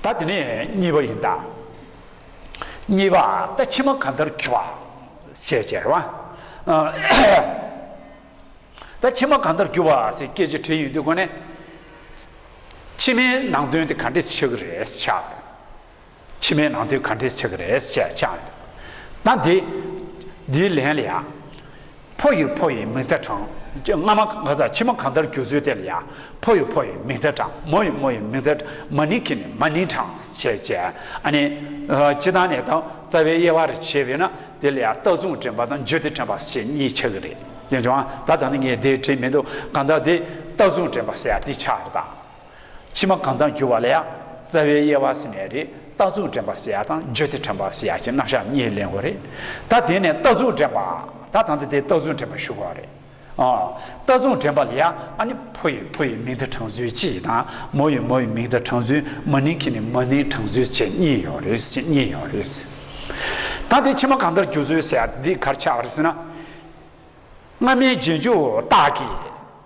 ད་དེ་ནས་གཉིས་པ་ཡིན་ད། གཉིས་པ་ད་ཕྱི་མ་གང་ལྟར་གྱི་བ། ཞེས་བྱས་ར་བ། ད་ཕྱི་མ་གང་ལྟར་གྱི་བ་ཞེས་སྐད་ཅིག་དྲིལ་ཡོད་དུས་གོ་ནས། ཕྱི་མའི་ནང་དོན་དེ་ག་འདྲས་ཆགས་ཀྱི་རེད་ཆགས་ཡོད། ཕྱི་མའི་ནང་དོན་ག་འདྲས་ཆགས་ཀྱི་རེད་ཞེས་ཆགས་ཡོད། ད་འདི་འདིའི་ལན་ལ་ཡང། ཕོ་ཡི་ཕོ་ཡི་མིག་མཐའ་དྲང། སྔ་མ་གང་དང་ཕྱི་མ་གང་ལྟར་འགྱུར་ཚུལ་དེ་ལ་ཡང། ཕོ་ཡི་ཕོ་ཡི་མིག་མཐའ་དྲང། མོ་ཡི་མོ་ཡི་མིག་མཐའ་དྲང། མ་ནིང་གི་ནི་མ་ནིང་དྲང། ཞེས་བྱ། ཨ་ནི། སྤྱི་དང་ནི་དང་རྩ་བའི་དབྱེ་བ་རེ་བྱེད་པས་ན་དེ་ལ་ཡང་རྟགས་མཚུངས་དྲན་པ་དང་བརྗོད་དེ་དྲན་པ་ཞེས་གཉིས་ཆགས་ཀྱི་རེད། ཡོད་བྱུང་ཨ། ད་ད་ནི་ངས་དེ་དྲན་མི་འདུག་གང་ལྟར་དེ་རྟགས་མཚུངས་དྲན་པ་ཞེས་པ་འདི་ཆགས་རེད་ད། ཕྱི་མ་གང་དག་འགྱུར་བ་ལ་ཡང་རྩ་བའི་དབྱེ་བ་ཟིན་མེད་རེད་རྟགས་རྫུན་དྲན་པ་ཟེར་ཡ་དང་བརྗོད་བདེ་དྲན་པ་ཟེར་ཡ་གྱི་རྣམ་གཞག་གཉིས་གླེང་དགོས་རེད་ད་དེ་ནས་རྟགས་རྫུན་དྲན་པ་ད་ད་ནི་དེ་རྟགས་རྫུན་དྲན་པ་ཞུ་དགོས་རེད་ཨ། རྟགས་རྫུན་དྲན་པ་ལ་ཡང་ཨ་ནི་ཕོ་ཡི་ཕོ་ཡི་མིང་དང་གྲངས་ཚུལ་གཅིག་དང་མོ་ཡི་མོ་ཡི་མིང་དང་གྲངས་ཚུལ་མ་ནིང་གི་ནི་མ་ནིང་གྲངས་ཚུལ་བཅས་གཉིས་ཡོད་རེད་ཅེས་གཉིས་ཡོད་རེད། ད་དེ་ཕྱི་མ་གང་དག་འགྱུར་ཚུལ་ཟེར་ཡ་དེ་འདི་གར་ཆགས་པར་ཟིན་ན། སྔ་མའི་རྗེས་འཇུག་རྟགས་ཀྱིས།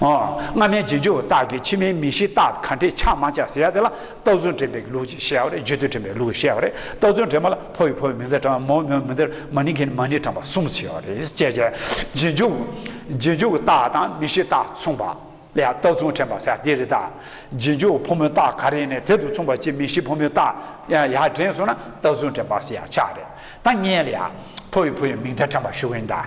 སྔ་མའི་རྗེས་འཇུག་རྟགས་ཀྱི་ཕྱི་མའི་མི་ཤིགས་རྟགས་གང་དྲིལ་ཆགས་མ་ཆགས་ཟེར་ཡ་དེ་ལ་རྟགས་རྫུན་དྲན་པའི་ལུགས་ཀྱིས་བཤད་པ་རེད་བརྗོད་དུས་དྲན་པའི་ལུགས་ཀྱིས་བཤད་པ་རེད་རྟགས་རྫུན་དྲན་པ་ལ་ཕོ་ཡིས་ཕོ་བའི་མིང་བརྡ་དྲངས་པ་མོ་ཡིས་མོའི་མིང་བརྡ་མ་ནིང་གིས་ནི་མ་ནིང་དྲངས་པ་གསུམ་ཟེར་བ་རེད་ཅེས་བཤད། རྗེས་འཇུག་རྗེས་འཇུག་རྟགས་དང་མི་ཤིགས་རྟགས་མཚུངས་པ་ལས་རྟགས་རྫུན་དྲན་པ་ཟེར་ཡ་དེ་རེད་ད། རྗེས་འཇུག་ཕོ་མོའི་རྟགས་ག་རེ་ནས་དེ་དང་མཚུངས་པ་ཅིག་མི་ཤིགས་ཕོ་མོའི་རྟགས་ཡག་དྲན་སོང་ན་རྟགས་རྫུན་དྲན་པ་ཟེར་ཡ་ཆགས་རེད་ད། ངས་ལ་ཡ། ཕོ་ཡིས་ཕོ་བའི་མིང་བརྡ་དྲངས་པ་ཞུ་གིན་གདའ།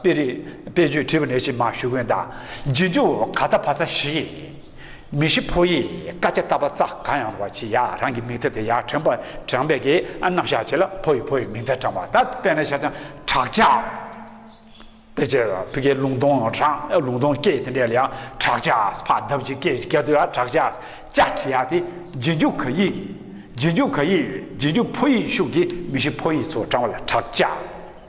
དཔེ་རིས་དཔེ་བརྗོད་བྲིས་པ་ནས་ཕྱི་མ་ཞུ་མཁན་དང་རྗེས་འཇུག་ག་རྟ་བ་ཚ་ཞིག་ཡིན། མི་ཤི་ཕོ་ཡིས་སྐ་ཆ་རྟ་བ་རྩ་གང་ཡང་རུང་བ་ཆི་ཡག་རང་གི་མིག་མཐའ་དེ་ཡག་དྲན་པ་དྲན་པས་ཀྱི་ཨ་རྣམ་གཞག་བྱེད་ལ་ཕོ་ཡི་ཕོ་ཡི་མིག་མཐའ་དྲན་བ་ད་དཔེ་ན་ཤ་ཆང་བྲག་ཆ་དཔེ་ཆ་བུ་གའི་ལུང་སྟོང་རང་ལུང་སྟོང་སྐད་དེ་འདྲས་ལ་ཡང་བྲག་ཆ་ཕག་གདབ་བྱེད་སྐད་ཀྱི་སྐད་དུ་ཡང་བྲག་ཆ་ཅག་བྲིས་ཡག་དེ་རྗེས་འཇུག་ག་ཡིག་རྗེས་འཇུག་ག་ཡིག་རྗེས་འཇུག་ཕོ་ཡིག་ཤུགས་ཀྱིས་མི་ཤི་ཕོ་ཡིས་ཚོ་དྲང་བ་ལ་བྲག་ཆ།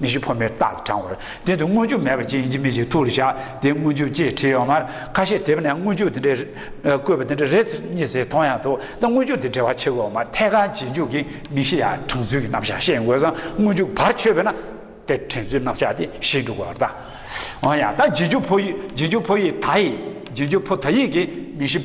མི་ཤི་འཕོ་མེད་རྟག་ཏུ་དྲང་བར། དེ་འདི་སྔོན་བྱུང་མེད་པ་ཅན་ཡིན་གྱི་མི་ཞིག་ཐུགས་ལ་བཞག་དེ་སྔོན་བྱུང་ཅེས་བྲིས་ཡོད་མར་ཁ་ཤས་དེབ་ནས་སྔོན་བྱུང་དེ་འདྲའི་བཀོད་པ་དེ་འདྲ་རེ་གཉིས་ཟེར་མཐོང་ཡང་ཐུག་ད་སྔོན་བྱུང་དེ་འབྲེལ་བ་ཆེ་གི་འོག་མ་ཐད་ཀར་རྗེས་འཇུག་གི་མི་ཤི་ཡ་དྲང་ཚུལ་གྱི་རྣམ་བཞག་བཤད་དགོས་སམ་སྔོན་བྱུང་བར་ཆོད་པས་ན་དེ་དྲན་ཚུལ་རྣམ་བཞག་དེ་ཤེས་འགྲོ་དགོས་པར་གདའ། འོན་ཡང་ད་རྗེས་འཇུག་འཕོ་ཡིག་རྗེས་འཇུག་འཕོ་ཡིག་ད་ཡིག་རྗེས་འཇུག་འཕོ་ད་ཡིག་གི་མི་ཤི།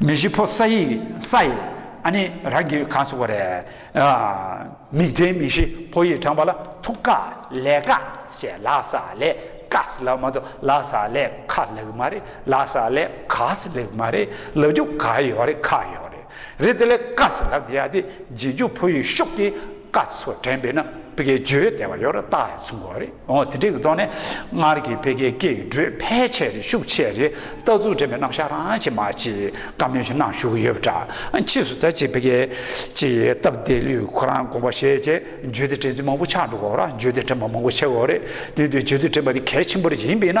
མི་བཞི་ཕོ་ས་ཡི་ས་ཡི་ཨ་ནི་རང་གི་གང་སོགས་པ་རེ་མིག་ལྡན་མི་བཞི་ཕོ་ཡིས་དྲངས་པ་ལ་ཐུགས་དཀའ་ལས་དཀའ་ཞེས་ལ་ས་ལས་དཀའ་སི་ལ་མ་ཏོ་ལ་ས་ལས་ཁ་ལག་མ་རེ་ལ་ས་ལས་ག་སི་ལག་མ་རེ་ལ་རྒྱུ་ག་ཡོ་རེ་ཁ་ཡོ་རེ་རེ་ཙི་ལས་དཀའ་སི་ལ་དེ་ཡ་དེ་རྗེས་འཇུག་ཕོ་ཡིས་ཤོག་གི། བཀའ་སོགས་དྲན་པས་ན་བི་ཀའི་བརྗོད་བདེ་བ་ཡོད་ར་བཏགས་ཡོད་ཚུལ་འགོ་རེད་འོང་དེ་འདྲའི་གི་ཐོག་ནས་སྔར་གྱི་བི་ཀའི་སྐད་ཀྱི་འགྲོས་ཕལ་ཆེར་རེ་ཤུགས་ཆེ་རེ་ལྟ་ཚུལ་དྲན་པའི་རྣམ་གཞག་རང་ཆེ་མ་ཆེ་བཀའ་མོལ་ཞིག་གནང་ཞུ་གི་ཡོད་པ་འདྲ་ཕྱིས་སུ་ད་ཅིག་བི་ཀའི་ཅིག་སྟབས་བདེ་ལུས་ཁོ་རང་དགོངས་པ་བཞེས་རྗེས་བརྗོད་བདེ་དྲན་ཚུལ་མང་པོ་ཆགས་འདུག་གོ་ར་བརྗོད་བདེ་དྲན་པ་མང་པོ་ཆེ་གོ་རེད་དེ་དུས་བརྗོད་བདེ་དྲན་པ་དེ་གལ་ཆེན་པོ་རེ་ཡིན་པས་ན།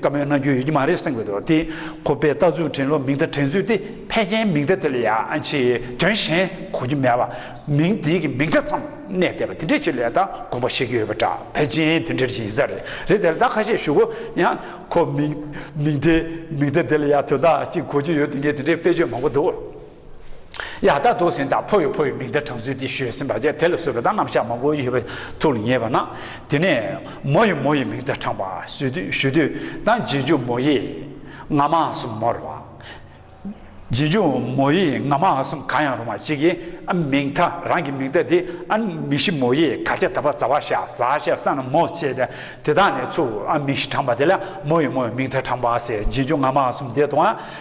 བཀའ་མོལ་གནང་རྒྱུ་ཡོད་ཀྱི་མ་རེད་གསུངས་ཡོད་འདུག་དེ་ཁོ་པས་རྟགས་འཛུགས་དྲན་ལོ་མིང་བརྡ་དྲན་ཚུལ་དེ་ཕལ་ཆེན་མིང་བརྡ་དེ་ལ་ཡང་ཆེས་དོན་གཞན་གོ་རྒྱུ་མེད་པ་མིང་དེ་གི་མིང་བརྡ་ཙམ་གནས་བསྡད་པ་དེ་འདྲའི་ཆེད་ལས་དང་དགོངས་པ་བཞེས་ཀྱི་ཡོད་པ་འདྲ་ཕལ་ཆེན་དེ་འདྲའི་ཡིན་ས་རེད་རེད་དེར་བདག་ཁ་ཤས་ཞུ་གོ་ཡང་ཁོ་མིང་མིང་དེ་མིང་བརྡ་དེ་ལ་ཡང་དོན་དག་ཅིག་གོ་རྒྱུ་ཡོད་དུས་ངས་དེ་འདྲའི་དཔེ་བརྗོད་མང་པོ་འདུག། ཡག་ད་དུག་ཟིན་དང་ཕོ་ཡོ་ཕོ་ཡོ་མིག་མདའི་གྲངས་ཚུལ་འདི་ཤོད་ཟིན་པ་བཅས་དེ་ལ་བཟོད་པ་དང་རྣམ་གཞག་མང་པོ་ཡོད་པ་ཐུགས་ལ་ངེས་པ་ན་དེ་ནས་མོ་ཡི་མོ་ཡི་མིག་མདའི་གྲངས་པ་ཞུ་དུས་དང་རྗེས་འཇུག་མོ་ཡི་ང་མ་གསུམ་མོར་བ། རྗེས་འཇུག་མོ་ཡི་ང་མ་གསུམ་གང་ཡང་རུང་བ་གཅིག་གིས་མིག་མཐའ་རང་གི་མིག་མདའ་དེ་མིག་བཞི་མོ་ཡི་གར་ཆ་ད་པ་ཛ་བ་ཤ་ཟ་ཤ་ས་ན་མོ་བཅས་ཏེ་དེ་དག་ནས་ཚུར་མིག་བཞི་གྲངས་པ་དེ་ལ་མོ་ཡི་མོ་ཡི་མིག་མཐའ་གྲངས་པ་ཟེར་རྗེས་འཇུག་ང་མ་གསུམ་དེ་དང།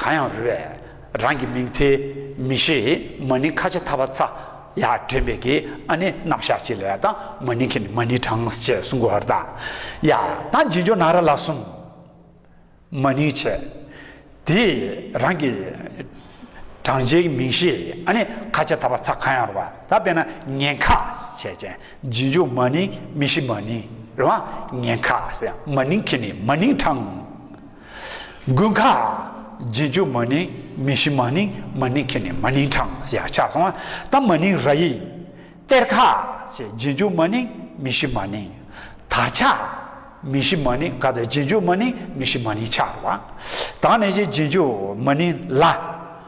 གང་ཡང་རུལ་བས་རང་གི་མིང་ཐེ་མི་ཤེས་མ་ནི་ཁ་ཆེ་ཐ་བ་ཚ་ཡ་དྲན་པས་ཀི་ཨ་ནི་རྣམ་གཞག་གཅིག་ལ་ཡ་དང་མ་ནི་ཁི་ནི་མ་ནི་གྲངས་བཅས་གསུམ་གོ་ཧར་དང་ཡ་དང་རྗེས་འཇོག་ན་ར་ལ་གསུམ་མ་ནི་བྱས་དེས་རང་གི་གྲངས་བཅས་ཀི་མིང་ཤེས་ཨ་ནི་ཁ་ཆེ་ཐ་བ་ཚ་གང་ཡང་རུལ་བ་ད་དཔེར་ན་ངན་ཁ་བྱས་ཅན་རྗེས་འཇོག་མ་ནི་མི་ཤེས་མ་ནི་རུལ་བ་ངན་ཁ་ཟེར་མ་ནི་ཁི་ནི་མ་ནི་གྲངས། དགུན་ཁ། རྗེས་འཇུག་མ་ནིང་མི་ཤི་མ་ནིང་མ་ནིང་ཁེ་ནི་མ་ནིང་གྲངས་ཞེས་ཆགས་སོང་ལྟ་མ་ནིང་ར་ཡིག། གཏེར་ཁ། རྗེས་འཇུག་མ་ནིང་མི་ཤི་མ་ནིང། དར་ཆ། མི་ཤི་མ་ནིང་ག་ཚད་རྗེས་འཇུག་མ་ནིང་མི་ཤི་མ་ནིང་ཆར་བ། དང་ནི་རྗེས་འཇུག་མ་ནིང་ལ།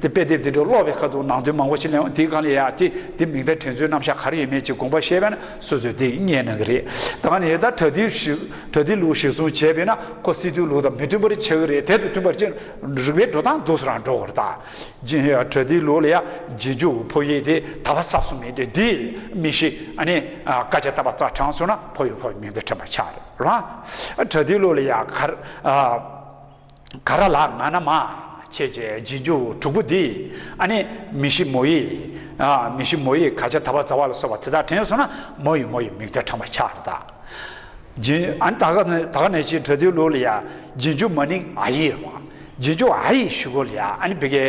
དེ་དཔེ་དེབ་དེ་ཚོ་ཀློག་པའི་ཁ་དུ་ནང་དོན་མང་པོ་ཞིག་གླེང་བ་དེ་གང་ལས་ཡག་དེ་དེ་མིང་བརྡ་དྲན་ཚུལ་རྣམ་གཞག་ག་རེ་ཡོད་མེད་ཅིག་དགོངས་པ་བཤད་པས་ན་སོ་སོས་དེ་རྙེད་གནང་གི་རེད་ད་ངས་ད་དྲ་ཐིག་དྲ་ཐིག་ལུགས་གཞིར་བཟུང་བྱས་པས་ན་ཁོ་སི་ཏུའི་ལུགས་དང་མི་མཐུན་པ་རེ་ཆགས་ཀྱི་རེད་དེ་དང་མཐུན་པར་ཅིག་རིགས་པའི་འགྲོ་སྟངས་འདུག་སོ་རང་འགྲོ་གོ་རྟ་རྗེན་ཡོད་དྲ་ཐིག་ལུགས་ལ་ཡ་རྗེས་འཇུག་གི་ཕོ་ཡིག་དེ་ད་བ་སབ་སུབ་མི་འདོད་དེ་མི་ཤེས་ཨ་ནི་སྐད་ཆ་བཏབ་པ་རྩ་དྲང་སོང་ན་ཕོ་ཡིག་ཕོ་ཡིག་མིང་བརྡ་དྲན་པ་ཆགས་རེད་རང་དྲ་ཐིག་ལུགས་ལ་ཡ་གར་ག་ར་ལགས་ང་ན་མ། ཁྱེད་ཀྱི་རྗེས་འཇུག་དྲུག་པོ་འདིས་ཨ་ནི། མི་ཤི་མོ་ཡིས། མི་ཤི་མོ་ཡིས་ག་ཆ་ད་བ་ཛ་བ་ལ་སོགས་པ་དེ་དག་དྲན་སོང་ན་མོ་ཡིས་མོ་ཡི་མིག་དར་དྲངས་པ་ཆགས་རེད་ད། རྗེས་འཇུག་ཨ་ནི་ད་ག་ད་ག་ནས་ཅིག་གྲོལ་དུས་ལོ་ལ་ཡ། རྗེས་འཇུག་མ་ནིང་ཨ་ཡིས། རྗེས་འཇུག་ཨ་ཡིས་ཞུ་གོ་ལ་ཡ་ཨ་ནི་བི་གའི།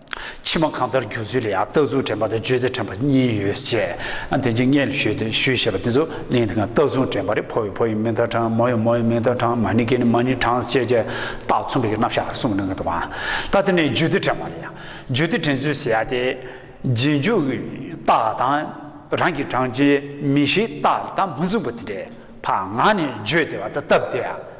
ཕྱི་མ་གང་ལྟར་འགྱུར་ཚུལ་ལ་ཡང་རྟགས་རྫུན་དྲན་པ་དང་བརྗོད་ཚེ་དྲན་པ་གཉིས་ཡོད་ཅེས་དེ་འཇིག་ངེས་ལས་ཞུས་ཏེ་ཞུས་ཞེས་པ་དེ་ཚོ་གླེང་དེ་གང་རྟགས་རྫུན་དྲན་པ་རེད་ཕོ་ཡོད་ཕོ་ཡི་མིང་མཐའ་དྲངས་མོ་ཡོད་མོ་ཡི་མིང་མཐའ་དྲངས་མ་ནི་གི་ནི་མ་ནི་དྲངས་ཅེས་བྱས་རྟགས་མཚུངས་པའི་རྣམ་གཞག་གསུངས་གནང་གི་འདུག་ད་ལྟ་ནི་བརྗོད་ཚུལ་དྲན་པ་ལ་ཡང་བརྗོད་ཚུལ་དྲན་ཚུལ་ཟེར་ཏེ། རྗེས་འཇུག་གི་རྟགས་དང་རང་གི་དྲངས་བྱའི་མིང་གཞིའི་རྟགས་དང་མི་མཚུངས་པ་དེ་འདྲའི་བར་ངག་ནས་བརྗོད་བདེ་བ་དང་བཏབ་བདེ་བ།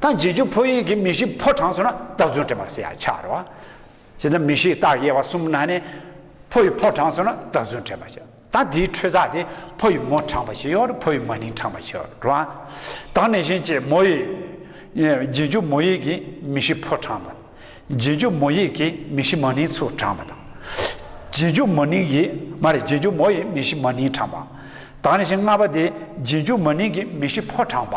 ད་རྗེས་འཇུག་ཕོ་ཡིག་གི་མི་གཞི་ཕོ་དྲངས་སོང་ན་རྟགས་མཚུངས་དྲི་མ་སེ་ཡང་ཆགས་རོ། བྱས་ཙང་མི་གཞིའི་རྟགས་དབྱེ་བ་གསུམ་ན་ནི། ཕོ་ཡི་ཕོ་དྲངས་སོང་ན་རྟགས་མཚུངས་དྲི་མ་ཆགས། ད་དེའི་འཕྲོས་རྩ་དེ་ཕོ་ཡི་མོ་དྲངས་པ་ཞིག་ཡོང་རུང་ཕོ་ཡི་མ་ནིང་དྲངས་པ་ཞིག་ཡོང་རུང། དང་ནས་གཞན་གྱིས་མོ་ཡི། རྗེས་འཇུག་མོ་ཡིག་གི་མི་གཞི་ཕོ་དྲངས་པ། རྗེས་འཇུག་མོ་ཡིག་གི་མི་གཞི་མ་ནིང་ཚུར་དྲངས་པ་དང། རྗེས་འཇུག་མོ་ནིང་གི། མ་རེད་རྗེས་འཇུག་མོ་ཡི་མི་གཞི་མ་ནིང་དྲངས་པ། དང་ནས་གཞན་ལྔ་པ་དེ་རྗེས་འཇུག་མ་ནིང་གི་མི་གཞི་ཕོ་དྲངས་པ།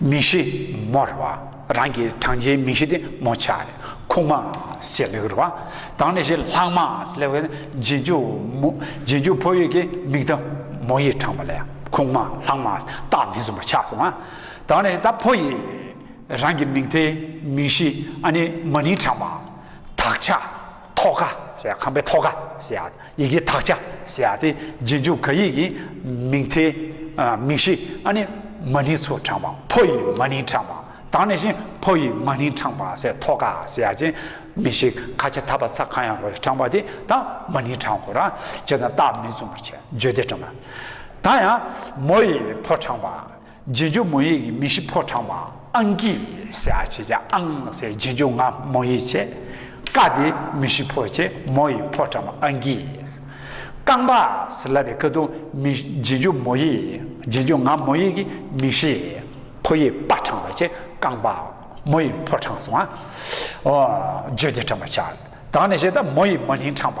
མིང་གཞི་མོ་ར་བ་རང་གི་བགྲང་བྱའི་མིང་གཞི་དེ་མོ་ཆ་རེད་ཁུག་མ་ཞེས་ལེགས་ར་བ་དང་ནི་ཞེས་ལྷག་མ་ཞེས་ལེགས་པའི་རྗེས་འཇུག་མོ་རྗེས་འཇུག་ཕོ་ཡིག་གི་མིང་དུ་མོ་ཡིག་དྲངས་པ་ལས་ཁུག་མ་ལྷག་མ་རྟགས་མི་མཚུངས་པ་ཆགས་སོང་ང་དང་ནི་ད་ཕོ་ཡིག་རང་གི་མིང་དེ་མིང་གཞི་ཨ་ནི་མ་ནིང་དྲངས་པ་དག་ཆ། ཐོག་ཁ་ཞེས་ཁང་པའི་ཐོག་ཁ་ཞེས་ཡི་གེའི་དག་ཆ་ཞེས་ཏེ་རྗེས་འཇུག་ག་ཡིག་གི་མིང་མཐའི་མིང་གཞི་ཨ་ནི་མ་ནིང་ཚུར་དྲངས་པ་ཕོ་ཡི་མ་ནིང་དྲངས་པ་དང་ནི་བཞིན་ཕོ་ཡི་མ་ནིང་དྲངས་པ་སའི་ཐོག་ཁ་ཞེས་ཅན་མིང་གཞི་ཁ་ཆེ་ད་བར་ཚ་གང་ཡང་རོ་ཡི་དྲངས་པ་དེ་དང་མ་ནིང་དྲངས་གོ་རང་བྱེད་དང་རྟགས་མི་མཚུངས་པར་བརྗོད་དེ་དྲངས་པ། ད་ཡང་མོ་ཡི་ཕོ་དྲངས་པ། རྗེས་འཇུག་མོ་ཡིག་གི་མི་གཞི་ཕོ་བྲང་བ་ཨང་ཀིས་ཨ་བྱེད་ཀྱི་ཨང་སའི་རྗེས་འཇུག་ང་མོ་ཡིག་བྱེད། ཀ་དེ་མི་གཞི་ཕོ་བྱེད་མོ་ཡི་ཕོ་བྲང་བ་ཨང་ཀིས། རྐང་པ་སི་ལ་བའི་ཀ་དུ་མི་རྗེས་འཇུག་མོ་ཡིག་རྗེས་འཇུག་ང་མོ་ཡིག་གི་མི་གཞི་ཕོ་ཡི་པ་བྲང་བ་བྱེད་རྐང་པ་མོ་ཡི་ཕོ་བྲང་བ། བརྗོད་བདེ་བྲང་བ་བྱ། དང་ནི་བྱེད་ད་མོ་ཡི་མ་ནིང་བྲང་བ།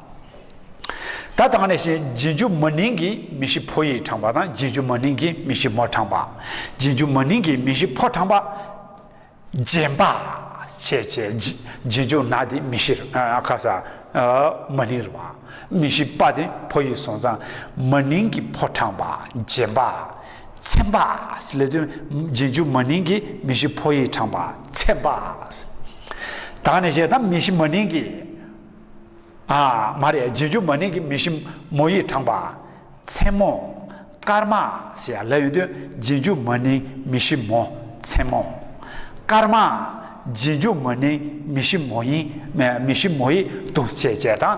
ད་དང་ནས་བཞིན་རྗེས་འཇུག་མ་ནིང་གི་མི་གཞི་ཕོ་ཡིས་དྲངས་པ་དང་རྗེས་འཇུག་མ་ནིང་གི་མི་གཞི་མོར་དྲངས་པ། རྗེས་འཇུག་མ་ནིང་གི་མི་གཞི་ཕོར་དྲངས་པ། རྗེན་པ། བྱེད་བྱེད། རྗེས་འཇུག་ན་དེ་མི་གཞིར། ཁ་ས། མ་ནིང་རུ་བ། མི་གཞི་པ་དེ་ཕོ་ཡིས་སོང་ཙང་མ་ནིང་གི་ཕོར་དྲངས་པ། རྗེན་པ། ཚེམ་པ། ལས་དོན། རྗེས་འཇུག་མ་ནིང་གི་མི་གཞི་ཕོ་ཡིས་དྲངས་པ། ཚེམ་པ། དང་ནས་བཞིན་ད་མི་གཞི་མ་ནིང་གི། ཨ་མ་རེད་རྗེས་འཇུག་མ་ནིང་གི་མི་ཞིམ་མོ་ཡིས་དྲངས་པ། མཚན་མོ། སྐར་མ། ཞེས་ཡང་ལབ་ཡོང་དུས་རྗེས་འཇུག་མ་ནིང་མི་ཞིམ་མོ། མཚན་མོ། སྐར་མ། རྗེས་འཇུག་མ་ནིང་མི་ཞིམ་མོ་ཡིས། མི་ཞིམ་མོ་ཡིས་དུག་བཅད་བཅད་དང།